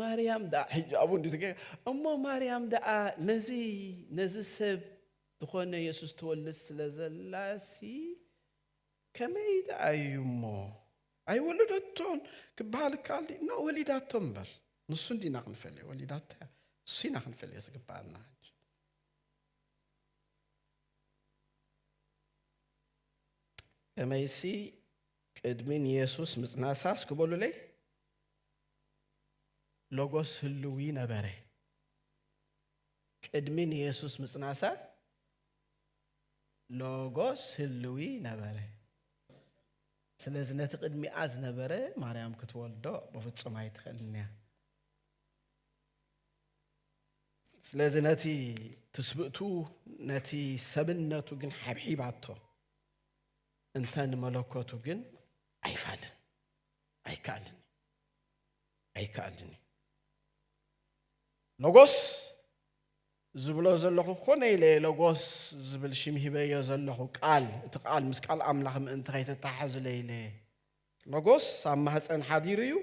Speaker 1: ማርያም ደኣ ሕጂ ኣብኡ እንዲ እቲ ጌጋ እሞ ማርያም ደኣ ነዚ ነዚ ሰብ ዝኾነ የሱስ ትወልድ ስለ ዘላሲ ከመይ ደኣ እዩ እሞ ኣይወለደቶን ክበሃል ይከኣል ድዩ? ኖእ ወሊዳቶ እምበር ንሱ እንዲና ክንፈልዮ ወሊዳቶ እያ ንሱ ኢና ክንፈልዮ ዝግበኣና ሕጂ ከመይሲ ቅድሚ ንየሱስ ምጽናሳስ ክበሉለይ ሎጎስ ህልዊ ነበረ ቅድሚ ንየሱስ ምጽናሳ ሎጎስ ህልዊ ነበረ። ስለዚ ነቲ ቅድሚኣ ዝነበረ ማርያም ክትወልዶ ብፍጹም ኣይትኽእልን እያ። ስለዚ ነቲ ትስብእቱ ነቲ ሰብነቱ ግን ሓብሒባቶ እንተ ንመለኮቱ ግን ኣይፋልን ኣይከኣልን ኣይከኣልን እዩ። ሎጎስ ዝብሎ ዘለኹ ኮነ ኢለ ሎጎስ ዝብል ሽም ሂበዮ ዘለኹ ቃል እቲ ቃል ምስ ቃል ኣምላኽ ምእንቲ ከይተተሓሕዝለ ኢለ ሎጎስ ኣብ ማህፀን ሓዲሩ እዩ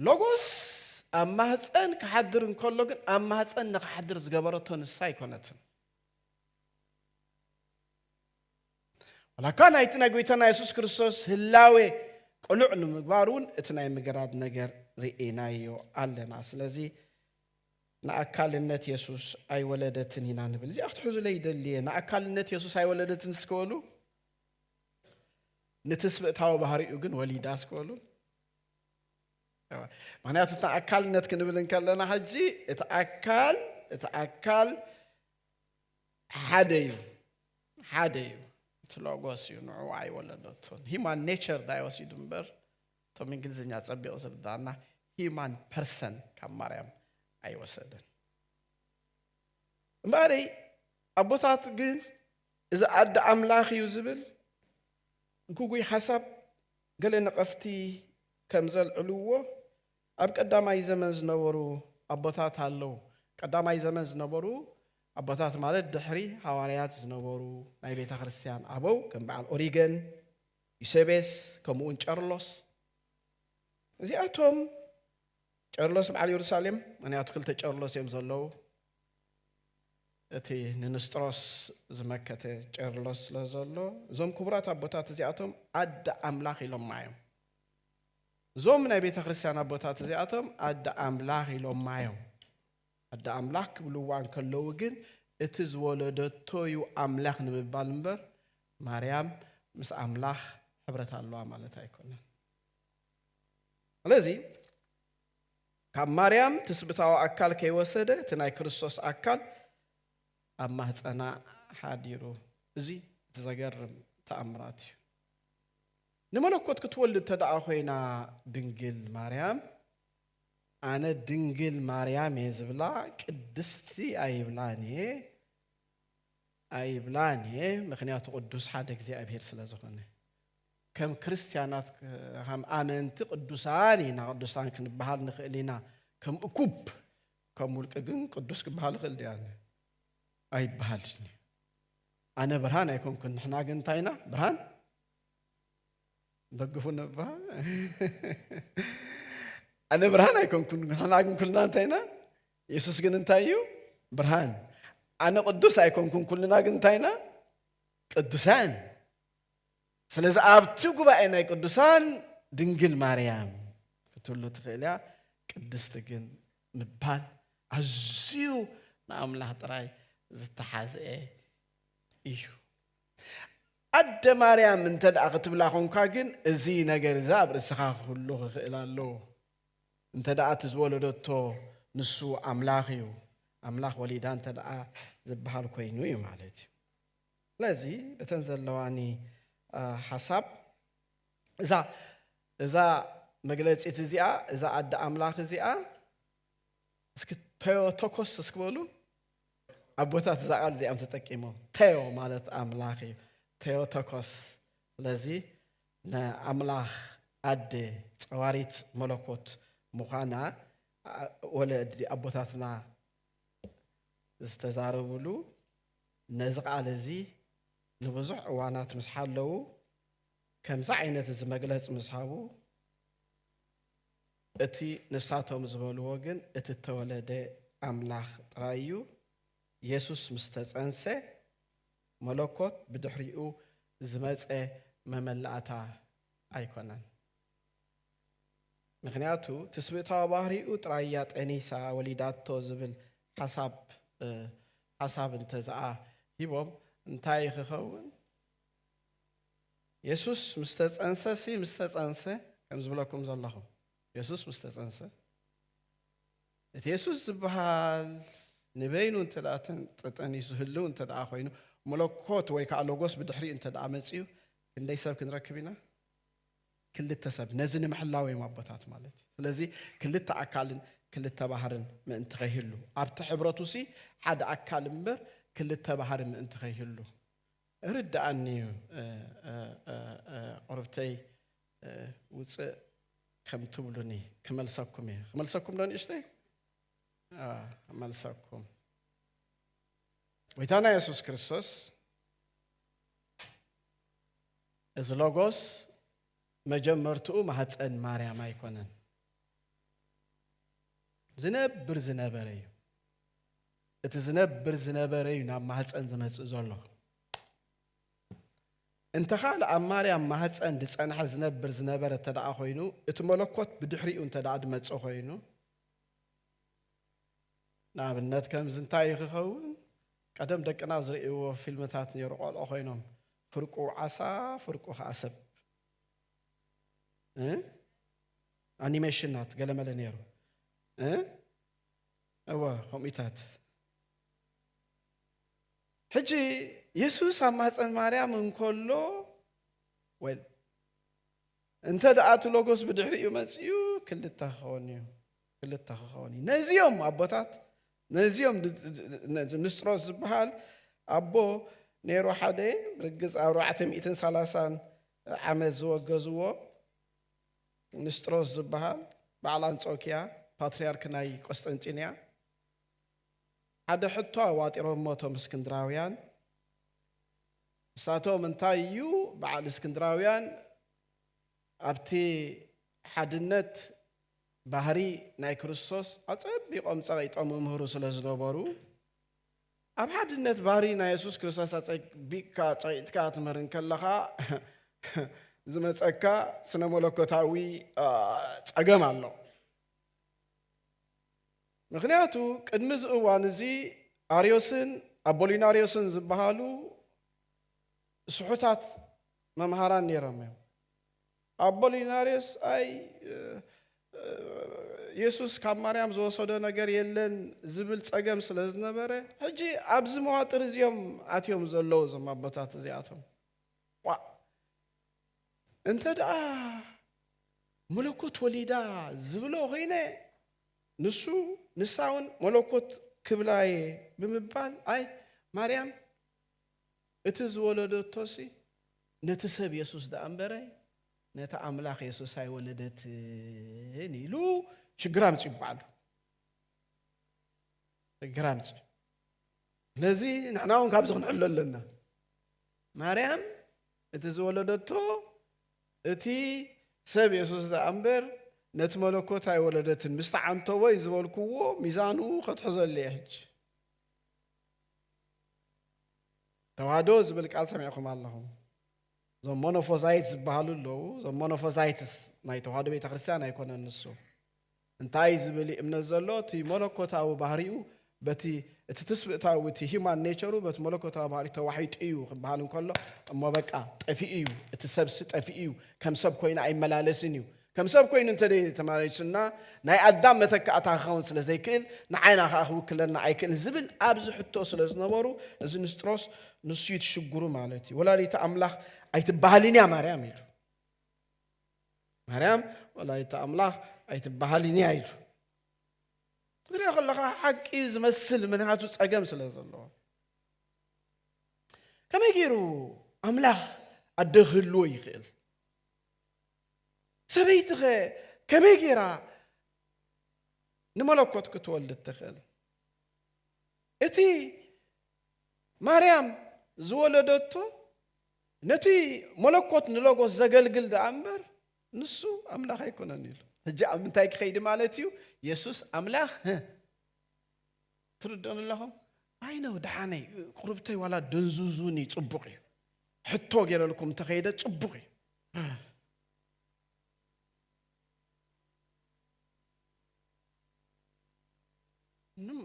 Speaker 1: ሎጎስ ኣብ ማህፀን ክሓድር እንከሎ ግን ኣብ ማህፀን ንክሓድር ዝገበረቶ ንሳ ኣይኮነትን ዋላ እኳ ናይቲ ናይ ጐይታና የሱስ ክርስቶስ ህላዌ ቅሉዕ ንምግባር እውን እቲ ናይ ምግራድ ነገር ርኢናዮ ኣለና። ስለዚ ንኣካልነት የሱስ ኣይወለደትን ኢና ንብል። እዚኣ ክትሕዙለይ ይደሊ እየ። ንኣካልነት የሱስ ኣይወለደትን እስከበሉ ንትስብእታዊ ባህሪኡ ግን ወሊዳ እስከበሉ ምክንያቱ እቲ ኣካልነት ክንብል እንከለና ሕጂ እቲ ኣካል እቲ ኣካል ሓደ እዩ ሓደ እዩ እቲ ሎጎስ እዩ ንዑ ኣይወለደቶን ሂማን ኔቸር ዳይ ወሲዱ እምበር እቶም እንግሊዝኛ ፀቢቑ ዝርዳእና ሂማን ፐርሰን ካብ ማርያም ኣይወሰደን እምበኣረይ ኣቦታት ግን እዚ ኣደ ኣምላኽ እዩ ዝብል ግጉይ ሓሳብ ገለ ነቐፍቲ ከም ዘልዕልዎ ኣብ ቀዳማይ ዘመን ዝነበሩ ኣቦታት ኣለዉ። ቀዳማይ ዘመን ዝነበሩ ኣቦታት ማለት ድሕሪ ሃዋርያት ዝነበሩ ናይ ቤተ ክርስቲያን ኣበው ከም በዓል ኦሪገን፣ ዩሴቤስ ከምኡውን ቄርሎስ እዚኣቶም ቄርሎስ በዓል የሩሳሌም ምክንያቱ ክልተ ቄርሎስ እዮም ዘለዉ እቲ ንንስጥሮስ ዝመከተ ቄርሎስ ስለ ዘሎ እዞም ክቡራት ኣቦታት እዚኣቶም ኣደ ኣምላኽ ኢሎማ እዮም እዞም ናይ ቤተ ክርስቲያን ኣቦታት እዚኣቶም ኣደ ኣምላኽ ኢሎማ እዮም። ኣደ ኣምላኽ ክብልዋ እንከለዉ ግን እቲ ዝወለደቶ እዩ ኣምላኽ ንምባል እምበር ማርያም ምስ ኣምላኽ ሕብረት ኣለዋ ማለት ኣይኮነን። ስለዚ ካብ ማርያም ትስብታዊ ኣካል ከይወሰደ እቲ ናይ ክርስቶስ ኣካል ኣብ ማህፀና ሓዲሩ እዚ እቲ ዘገርም ተኣምራት እዩ ንመለኮት ክትወልድ ተደኣ ኮይና ድንግል ማርያም ኣነ ድንግል ማርያም እየ ዝብላ ቅድስቲ ኣይብላን እየ ኣይብላን እየ ምክንያቱ ቅዱስ ሓደ እግዚኣብሔር ስለ ዝኾነ ከም ክርስትያናት ከም ኣመንቲ ቅዱሳን ኢና ቅዱሳን ክንበሃል ንኽእል ኢና ከም እኩብ ከም ውልቂ ግን ቅዱስ ክበሃል ይኽእል ድያነ ኣይበሃልሽኒ ኣነ ብርሃን ኣይኮንኩን ንሕና ግን እንታይ ኢና ብርሃን ደግፉን እባ ኣነ ብርሃን ኣይኮንኩን ንሕና ግን ኩልና እንታይ ኢና የሱስ ግን እንታይ እዩ ብርሃን ኣነ ቅዱስ ኣይኮንኩን ኩልና ግን እንታይ ኢና ቅዱሳን ስለዚ ኣብቲ ጉባኤ ናይ ቅዱሳን ድንግል ማርያም ክትህሉ ትኽእል እያ ቅድስቲ ግን ምባል ኣዝዩ ንኣምላኽ ጥራይ ዝተሓዝአ እዩ ኣደ ማርያም እንተ ደኣ ክትብላ ኾንካ ግን እዚ ነገር እዚ ኣብ ርእስኻ ክህሉ ክኽእል ኣለዎ። እንተ ደኣ እቲ ዝወለደቶ ንሱ ኣምላኽ እዩ፣ ኣምላኽ ወሊዳ እንተ ደኣ ዝበሃል ኮይኑ እዩ ማለት እዩ። ስለዚ በተን ዘለዋኒ ሓሳብ እዛ እዛ መግለጺት እዚኣ እዛ ኣደ ኣምላኽ እዚኣ እስኪ ተዮ ተኮስ እስኪ በሉ ኣቦታት እዛ ቃል እዚኣም ተጠቂሞም ተዮ ማለት ኣምላኽ እዩ ተዮ ተኮስ ስለዚ ንኣምላኽ ኣደ ፀዋሪት መለኮት ምዃና ወለዲ ኣቦታትና ዝተዛረብሉ ነዚ ቃል እዚ ንብዙሕ እዋናት ምስ ሓለዉ ከምዚ ዓይነት እዚ መግለፂ ምስ ሃቡ እቲ ንሳቶም ዝበልዎ ግን እቲ እተወለደ ኣምላኽ ጥራይ እዩ። የሱስ ምስ ተጸንሰ፣ መለኮት ብድሕሪኡ ዝመጸ መመላእታ ኣይኰነን። ምኽንያቱ ትስብእታዊ ባህሪኡ ጥራይ እያ ጠኒሳ ወሊዳቶ ዝብል ሓሳብ ሓሳብ እንተዝኣ ሂቦም እንታይ ክኸውን የሱስ ምስ ተጸንሰ ሲ ምስ ተጸንሰ ከም ዝብለኩም ዘለኹ የሱስ ምስ ተጸንሰ እቲ የሱስ ዝበሃል ንበይኑ እንተ ደኣ ተጠኒሱ ዝህልው እንተ ደኣ ኮይኑ መለኮት ወይ ከዓ ሎጎስ ብድሕሪኡ እንተ ደኣ መጺኡ ክንደይ ሰብ ክንረክብ ኢና ክልተ ሰብ ነዚ ንምሕላው እዮም ኣቦታት ማለት እዩ ስለዚ ክልተ ኣካልን ክልተ ባህርን ምእንቲ ከይህሉ ኣብቲ ሕብረቱ ሲ ሓደ ኣካል እምበር ክልተ ባህሪ ምእንቲ ከይህሉ እርደኣኒ እዩ ቁርብተይ ውጽእ ከም ትብሉኒ ክመልሰኩም እየ ክመልሰኩም ዶ ንእሽተይ መልሰኩም ጎይታና የሱስ ክርስቶስ እዚ ሎጎስ መጀመርትኡ ማህፀን ማርያም ኣይኮነን ዝነብር ዝነበረ እዩ እቲ ዝነብር ዝነበረ እዩ ናብ ማህፀን ዝመፅእ ዘሎ እንተኻል ኣብ ማርያም ማህፀን ዝፀንሐ ዝነብር ዝነበረ እተደኣ ኮይኑ እቲ መለኮት ብድሕሪኡ እንተደኣ ድመፀ ኮይኑ ንኣብነት ከምዚ እንታይ እዩ ክኸውን ቀደም ደቅና ዝርእይዎ ፊልምታት ነይሩ ቆልዑ ኮይኖም ፍርቁ ዓሳ ፍርቁ ከዓ ሰብ ኣኒሜሽናት ገለመለ ነይሩ እወ ከምኡታት ሕጂ የሱስ ኣብ ማህፀን ማርያም እንከሎ ወይ እንተ ደኣ እቲ ሎጎስ ብድሕሪኡ መፅኡ ክልተ ክኸውን እዩ ክልተ ክኸውን እዩ ነዚኦም ኣቦታት ነዚኦም ንስጥሮስ ዝበሃል ኣቦ ነይሩ ሓደ ርግፅ ኣርባዕተ ሚእትን ሰላሳን ዓመት ዝወገዝዎ ንስጥሮስ ዝበሃል በዓል ኣንጾክያ ፓትርያርክ ናይ ቈስጠንጢንያ ሓደ ሕቶ ኣዋጢሮሞ እቶም እስክንድራውያን ንሳቶም እንታይ እዩ በዓል እስክንድራውያን ኣብቲ ሓድነት ባህሪ ናይ ክርስቶስ ኣጸቢቖም ጸቒጦም ይምህሩ ስለ ዝነበሩ ኣብ ሓድነት ባህሪ ናይ የሱስ ክርስቶስ ኣጸቢቕካ ጸቂጥካ ክትምህር እንከለኻ ዝመጸካ ስነ መለኮታዊ ጸገም ኣሎ። ምክንያቱ ቅድሚ እዚ እዋን እዚ ኣርዮስን ኣቦሊናርዮስን ዝበሃሉ ስሑታት መምሃራን ነይሮም እዮም። ኣቦሊናርዮስ ኣይ የሱስ ካብ ማርያም ዝወሰዶ ነገር የለን ዝብል ጸገም ስለ ዝነበረ ሕጂ ኣብዚ መዋጥር እዚ እዮም ኣትዮም ዘለዉ እዞም ኣቦታት እዚኣቶም ቋዕ እንተ ደኣ መለኮት ወሊዳ ዝብሎ ኮይነ ንሱ ንሳ እውን መለኮት ክብላ እየ ብምባል ኣይ ማርያም እቲ ዝወለደቶሲ ነቲ ሰብ የሱስ ደኣ እምበረ ነቲ ኣምላኽ የሱስ ኣይወለደትን ኢሉ ሽግር ኣምጺኡ ባዕሉ ሽግር ኣምጺኡ ስለዚ ንሕና እውን ካብዚ ክንሕሎ ኣለና ማርያም እቲ ዝወለደቶ እቲ ሰብ የሱስ ደኣ እምበር ነቲ መለኮት ኣይወለደትን ምስ ተዓንተቦ እዩ ዝበልክዎ ሚዛኑ ከትሕዘሉ እየ ሕጂ ተዋህዶ ዝብል ቃል ሰሚዕኹም ኣለኹም። እዞም ሞኖፎዛይት ዝበሃሉ ኣለዉ። እዞም ሞኖፎዛይትስ ናይ ተዋህዶ ቤተ ክርስቲያን ኣይኮነን ንሱ እንታይ ዝብል እምነት ዘሎ እቲ መለኮታዊ ባህሪኡ በቲ እቲ ትስብእታዊ እቲ ሂማን ኔቸሩ በቲ መለኮታዊ ባህሪ ተዋሒጡ እዩ ክበሃል እንከሎ እሞ በቃ ጠፊኡ እዩ እቲ ሰብሲ ጠፊኡ እዩ ከም ሰብ ኮይኑ ኣይመላለስን እዩ ከም ሰብ ኮይኑ እንተ ተመሊሱና ናይ ኣዳም መተካእታ ክኸውን ስለ ዘይክእል ንዓይና ከኣ ክውክለና ኣይክእልን ዝብል ኣብዚ ሕቶ ስለ ዝነበሩ እዚ ንስጥሮስ ንሱ እዩ እቲ ሽጉሩ ማለት እዩ ወላዲተ ኣምላኽ ኣይትበሃልን እያ ማርያም ኢሉ ማርያም ወላዲተ ኣምላኽ ኣይትበሃልን እያ ኢሉ ክትሪኦ ከለኻ ሓቂ ዝመስል ምንሃቱ ፀገም ስለ ዘለዎ ከመይ ገይሩ ኣምላኽ ኣደ ክህልዎ ይኽእል ሰበይቲኸ ከመይ ገይራ ንመለኮት ክትወልድ ትኽእል? እቲ ማርያም ዝወለደቶ ነቲ መለኮት ንሎጎስ ዘገልግል ደኣ እምበር ንሱ ኣምላኽ ኣይኮነን ኢሉ ሕጂ ኣብ ምንታይ ክኸይዲ ማለት እዩ የሱስ ኣምላኽ ትርድኡን ኣለኹም ኣይነ ደሓነይ ቁርብተይ ዋላ ደንዙዙኒ ፅቡቕ እዩ ሕቶ ገይረልኩም እንተኸይደ ፅቡቕ እዩ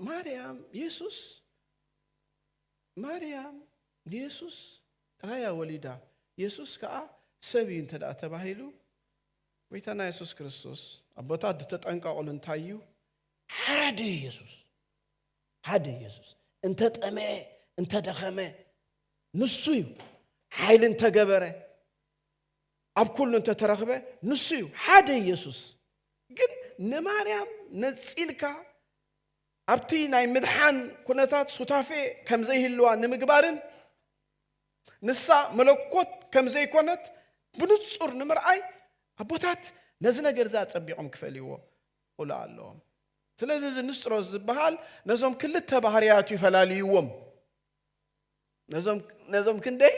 Speaker 1: ማርያም የሱስ ማርያም ንየሱስ ጥራያ ወሊዳ የሱስ ከዓ ሰብ እዩ እንተ ተባሂሉ ጎይታና የሱስ ክርስቶስ ኣቦታት ዝተጠንቀቕሉ እንታይ እዩ ሓደ የሱስ ሓደ ኢየሱስ እንተ ጠመየ እንተ ደኸመ ንሱ እዩ ሓይሊ እንተ ገበረ ኣብ ኩሉ እንተ ተረኽበ ንሱ እዩ ሓደ ኢየሱስ ግን ንማርያም ነጺልካ ኣብቲ ናይ ምድሓን ኩነታት ሱታፌ ከም ዘይህልዋ ንምግባርን ንሳ መለኮት ከም ዘይኮነት ብንጹር ንምርኣይ ኣቦታት ነዚ ነገር እዚ ኣጸቢቖም ክፈልይዎ ቁልዓ ኣለዎም። ስለዚ እዚ ንስጥሮስ ዝበሃል ነዞም ክልተ ባህርያቱ ይፈላልይዎም። ነዞም ክንደይ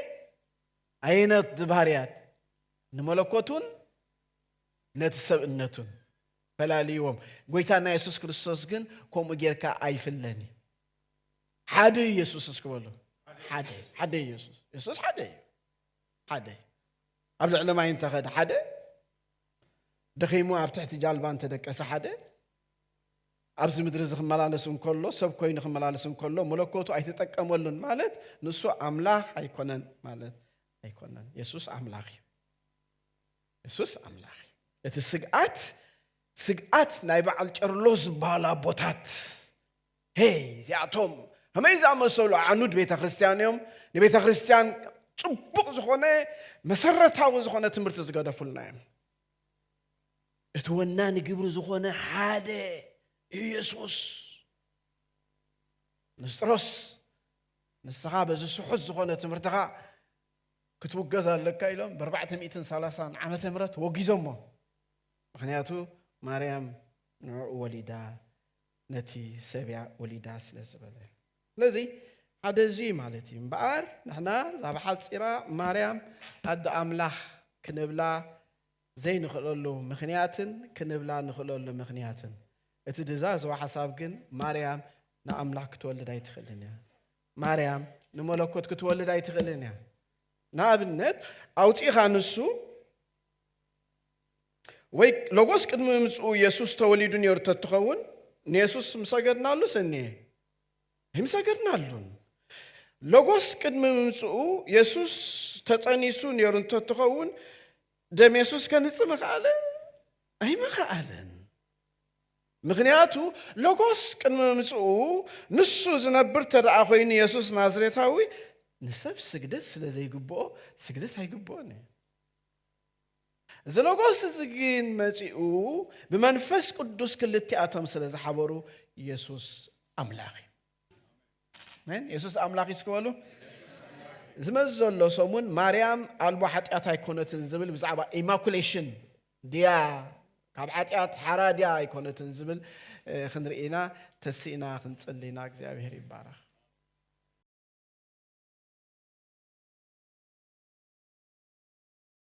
Speaker 1: ኣይነት ዝባህርያት ንመለኮቱን ነቲ ሰብእነቱን ፈላልይዎም። ጎይታና የሱስ ክርስቶስ ግን ከምኡ ጌርካ ኣይፍለን እዩ። ሓደ እዩ የሱስ እስኪ በሉ ሓደ ሓደ እዩ የሱስ የሱስ ሓደ እዩ ሓደ ኣብ ልዕሊ ማይ እንተኸደ ሓደ ደኺሙ ኣብ ትሕቲ ጃልባ እንተ ደቀሰ ሓደ ኣብዚ ምድሪ እዚ ክመላለስ እንከሎ ሰብ ኮይኑ ክመላለስ እንከሎ መለኮቱ ኣይተጠቀመሉን ማለት ንሱ ኣምላኽ ኣይኮነን ማለት ኣይኮነን። የሱስ ኣምላኽ እዩ። የሱስ ኣምላኽ እዩ። እቲ ስግኣት ስግኣት ናይ በዓል ጨርሎስ ዝበሃል ኣቦታት ሄይ እዚኣቶም ከመይ ዝኣመሰሉ ኣዕኑድ ቤተ ክርስትያን እዮም ንቤተ ክርስትያን ጽቡቕ ዝኾነ መሰረታዊ ዝኾነ ትምህርቲ ዝገደፉልና እዮም እቲ ወናኒ ግብሪ ዝኾነ ሓደ ኢየሱስ ንስጥሮስ ንስኻ በዚ ስሑት ዝኾነ ትምህርትኻ ክትውገዝ ኣለካ ኢሎም ብ430 ዓመተ ምህረት ወጊዞሞ ምክንያቱ ማርያም ንዕኡ ወሊዳ ነቲ ሰብያ ወሊዳ ስለ ዝበለ ስለዚ ሓደ እዚ እዩ ማለት እዩ እምበኣር ንሕና ዛብ ሓፂራ ማርያም ኣደ ኣምላኽ ክንብላ ዘይንኽእለሉ ምኽንያትን ክንብላ ንኽእለሉ ምኽንያትን እቲ ድዛዘወ ሓሳብ ግን ማርያም ንኣምላኽ ክትወልድ ኣይትኽእልን እያ ማርያም ንመለኮት ክትወልድ ኣይትኽእልን እያ ንኣብነት ኣውፂኻ ንሱ ወይ ሎጎስ ቅድሚ ምምጽኡ የሱስ ተወሊዱ ነይሩ ተትኸውን ንየሱስ ምሰገድናሉስ እኒሀ? ኣይምሰገድናሉን። ሎጎስ ቅድሚ ምምጽኡ የሱስ ተጸኒሱ ነይሩ እንተትኸውን ደም የሱስ ከንጽ ምኸኣለ? ኣይምኸኣለን። ምክንያቱ ሎጎስ ቅድሚ ምምጽኡ ንሱ ዝነብር ተደኣ ኮይኑ የሱስ ናዝሬታዊ ንሰብ ስግደት ስለ ዘይግብኦ ስግደት ኣይግብኦን እዩ። እዚ ሎጎስ እዚ ግን መጺኡ ብመንፈስ ቅዱስ ክልቲኣቶም ስለ ዝሓበሩ የሱስ ኣምላኽ እዩ። ኣሜን። የሱስ ኣምላኽ እዩ እስኪ በሉ። ዝመጽእ ዘሎ ሰሙን ማርያም ኣልቦ ሓጢኣት ኣይኮነትን ዝብል ብዛዕባ ኢማኩሌሽን ድያ ካብ ሓጢኣት ሓራ ድያ ኣይኮነትን ዝብል እ፣ ክንርኢ ኢና። ተሲእና ክንጽሊ ኢና። እግዚኣብሄር ይባረኽ።